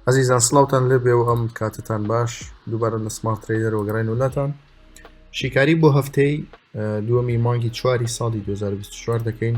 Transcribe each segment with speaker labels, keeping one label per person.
Speaker 1: ئەزیزان سلااوان لێ بێ و ئەم کاتتان باش دووبارە لە سمارت تریدەر وەگەڕین وولاتان شیکاری بۆ هەفتەی دووەمی مانگی چواری ساڵی 2024 دەکەین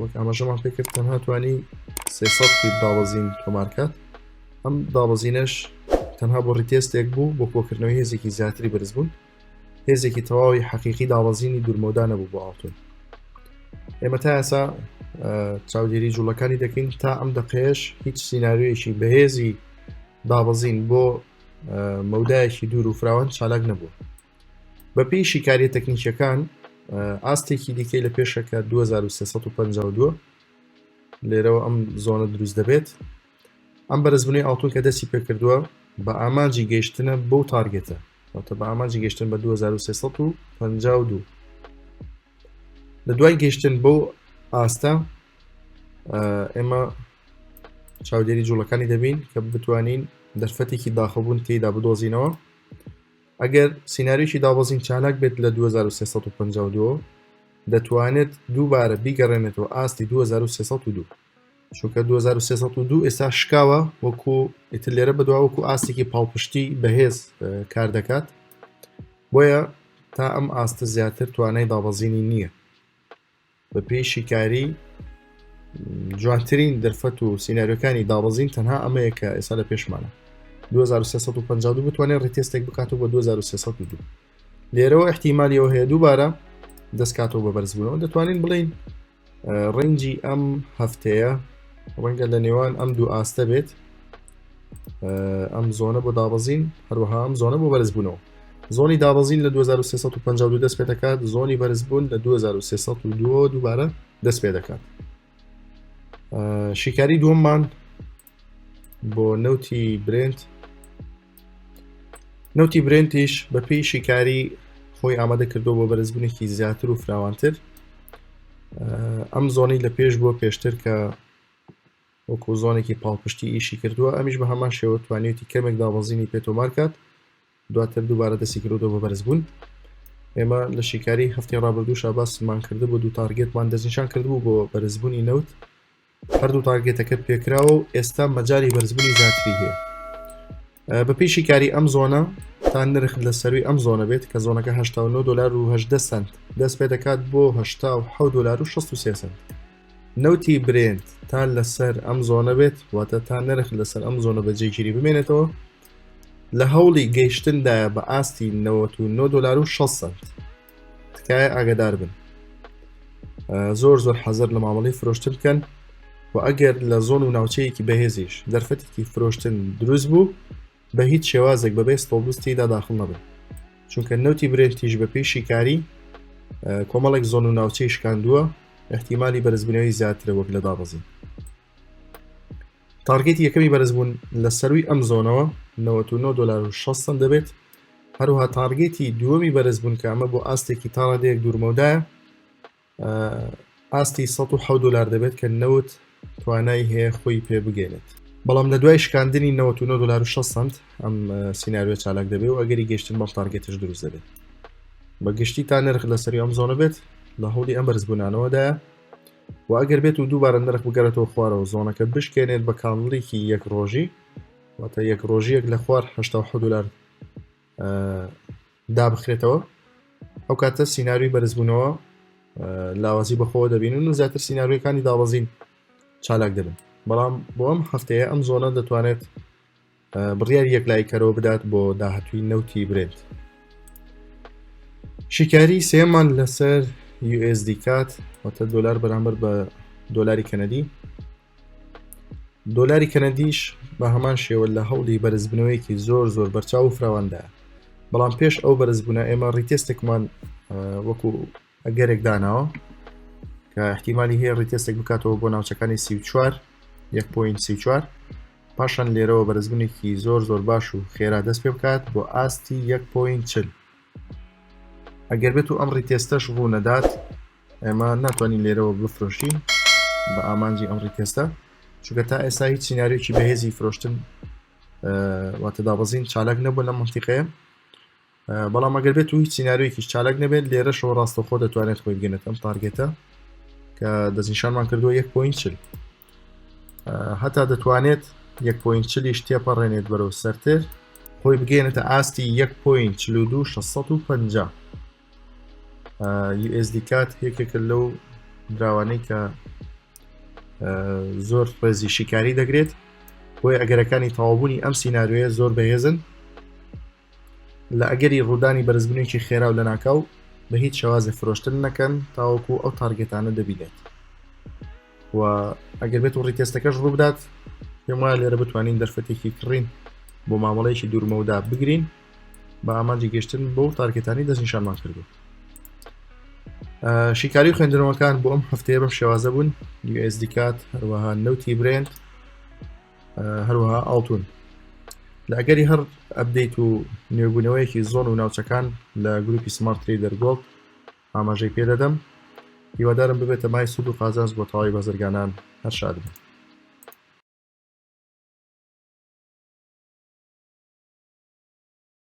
Speaker 1: وەک ئاماژەمان پێکرد تەنها توانی سێسەد فیت دابەزین تۆمارکات ئەم دابەزینەش تەنها بۆ ڕیتێستێک بوو بۆ کۆکردنەوەی هێزێکی زیاتری بەرز بوون هێزێکی تەواوی حەقیقی دابەزینی دوورمەودا نەبوو بۆ ئاڵتون ئێمە تا ئێسا چاودێری جوڵەکانی دەکەین تا ئەم دەقێش هیچ سینناویەکی بەهێزی دابەزین بۆ مەودایەکی دوور و فراوان چالاک نەبوو بەپێی شیکاریە تەکنیکیەکان ئاستێکی دیکەی لە پێشە کە 2352 لێرەوە ئەم زۆنە دروست دەبێت ئەم بەرزبوونی ئاڵتون کە دەستی پێکردووە بە ئامانجی گەیشتنە بۆ تارگێتە واتە بە ئامانجی گەشتن بە 2352 لە دوای گەشتن بۆ ئاستە ئێمە چاودێری جوڵەکانی دەبین کە بتوانین دەرفەتێکی داخبوون تێدا بدۆزینەوە ئەگەر سیناریۆکی دابەزین چالاک بێت لە 2352 دەتوانێت دووبارە بیگەڕێنێتەوە ئاستی 2302 چونکە 2302 ئێستا شکاوە وەکو ئیتر لێرە بەدوا وەکو ئاستێکی پاڵپشتی بەهێز کار دەکات بۆیە تا ئەم ئاستە زیاتر توانای دابەزینی نییە بە پێی شیکاری جوانترین دەرفەت و سینناریەکانی داڕزین تەنها ئەمەیە کە ئێستا لە پێشمانە 2350 بتوانێت ڕیتێستێک بکات و بە 2300 لێرەوە احتیممالیەوە هەیە دووبارە دەستکاتەوە بە بەرزبوونەوە دەتوانین بڵین ڕنجی ئەم هەفتەیە ڕەنگە لە نێوان ئەم دوو ئاستە بێت ئەم زۆنە بۆ داڕزین هەروەها ئەم زۆنە بۆ بەرزبوونەوە زۆنی دابەزین لە 2352 دەست پێ دەکات زۆنی بەرزبوون لە 2302 دووبارە دەست پێ دەکات شیکاری دووەممان بۆ نەوتی برنت نەوتی برنتیش بە پێی شیکاری خۆی ئامادە کردو بۆ بەرزبوونێکی زیاتر و فراوانتر ئەم زۆنی لە پێش بۆ پێشتر کە وەکو زۆنێکی پاڵپشتی ئیشی کردووە، ئەمیش بە هەمان شێوە توانیویەتی کەمێک دابەزینی پێ تۆمار کات، دواتر دووبارە دەستی کردۆتەوە بە بەرزبوون. ئێمە لە شیکاری هەفتەی ڕابردووشا باسمان کردبوو دوو تارگێتمان دەستنیشان کردبوو بۆ بەرزبوونی نەوت، هەردوو تارگێتەکە پێکراوە و ئێستا مەجالی بەرزبوونی زیاتری هەیە. بە پێی شیکاری ئەم زۆنە تا نرخ لە سەروی ئەم زۆنە بێت کە زۆنەکە 89 دلار و 18 سنت دەست پێ دەکات بۆ 1970 دلار و 63 سنت نەوتی برێنت تا لەسەر ئەم زۆنە بێت واتە تا نرخ لەسەر ئەم زۆنە بە جێگیری بمێنێتەوە لە هەوڵی گەیشتندایە بە ئاستی 99 دلار و 6 سنت تکایە ئاگدار بن زۆر زۆر حەزر لە مامەڵی فرۆشتن بکەن و ئەگەر لە زۆن و ناوچەیەکی بەهێزیش دەرفەتێکی فرۆشتن دروست بوو بە هیچ شێوازێک بەبێ ستۆڵبستیدا داخل نەبن چونکە نەوتی برێنتیش بە پێی شیکاری کۆمەڵێک زۆن و ناوچەی شکاندووە احتیممالی بەرزبوونەوەی زیاترە وەک لە دابەزین تارگێتی یەکەمی بەرزبوون لە سەروی ئەم زۆنەوە 99 دلار و 6 سنت دەبێت هەروها تارگێتی دووەمی بەرزبوون کە ئەمە بۆ ئاستێکی تاڕادەیەک دوورمەودایە ئاستی 1 دلار دەبێت کە نەوت توانای هەیە خۆی پێ بگەێنێت بەڵام لە دوای شکاندنی 99 دلار و 6 سنت ئەم سینناریۆ چالاک دەبێ و ئەگەری گەشتن بەڵ تارگێتش دروست دەبێت بە گشتی تا نرخ لە سەری ئەم زۆنە بێت لە هەوڵی ئەم بەرزبوونانەوەدایە وە ئەگەر بێت و دووبارە نرخ بگەرێتەوە خوارەوە زۆنەکە بشکێنێت بە کانڵیکی یەک ڕۆژی واتە یەک ڕۆژیەک لە خوار هه دلار دابخرێتەوە ئەو کاتە سینناوی بەرزبوونەوە لاوازی بەخۆوە دەبینن و زیاتر سینناویەکانی داوەزین چالاک دەبن بەڵام بۆ ئەم هەفتەیە ئەم زۆنە دەتوانێت بڕیاری یەکلایکەرەوە بدات بۆ داهاتووی نەوتی برێت شیکاری سێمان لەسەر USD کات وەتە دلار بەرامبەر بە دۆلاری کەنەدی دۆلاری کەنەدیش بە هەمان شێوە لە هەوڵی بەرزبنەوەیەکی زۆر زۆر بەرچاو و فراواندا بەڵام پێش ئەو بەرزبوونا ئێمە ڕیتێستێکمان وەکو ئەگەرێک داناوە کە احتیممالی هەیە ڕیتێستێک بکاتەوە بۆ ناوچەکانی سی چوار یەک پوین سی چوار پاشان لێرەوە بەرزبوونێکی زۆر زۆر باش و خێرا دەست پێ بکات بۆ ئاستی یەک پوین چل ئەگەر بێت و ئەم ڕیتێستەش ڕوو نەدات ئێمە ناتوانین لێرەوە بفرۆشین بە ئامانجی ئەم ڕیتێستە چونکە تا ئێستا هیچ سینناریۆکی بەهێزی فرۆشتن واتە دابەزین چالاک نەبوو لە منتیقەیە بەڵام ئەگەر بێت و هیچ سینناریۆیکیش چالک نەبێت لێرەشەوە ڕاستەخۆ دەتوانێت خۆی بگەنێت ئەم تارگێتە کە دەستنیشانمان کردووە یەک پوینچل هەتا دەتوانێت یەک پوینچلیش تێپەڕێنێت بەرەو سەرتر خۆی بگەێنێتە ئاستی یەک پوین چل و دوو 650 USD کات یەکێکە لەو دراوانەی کە زۆر ڕێزی شیکاری دەگرێت بۆی ئەگەرەکانی تەوابوونی ئەم سینناروێ زۆر بەهێزن لە ئەگەری ڕوودانی بەرزبونێکی خێرا و لەناکاو بە هیچ شێوازێ فرۆشتن نەکەن تاوەکو ئەو تارگێتانە دەبینێت و ئەگەر بێت و ڕیتێستەکەش ڕووبدات پێم وایە لێرە بتوانین دەرفەتێکی کڕین بۆ مامەڵەیەکی دوورمەودا بگرین بە ئامانجی گەشتن بۆ تارگێتانی دەستنیشانمان کردو شیکاری و خوێندنەوەکان بۆ ئەم هەفتەیە بەم شێوازە بوون USD کات هەروەها نەوتی برێنت هەروەها ئاڵتون لە ئەگەری هەر ئەبدەیت و نوێبوونەوەیەکی زۆن و ناوچەکان لە گروپی سمارت تری دەرگۆڵد ئاماژەی پێدەدەم هیوادارم ببێتە مای سوود و قازانج بۆ تەواوی بەزرگانان هەر شاد بن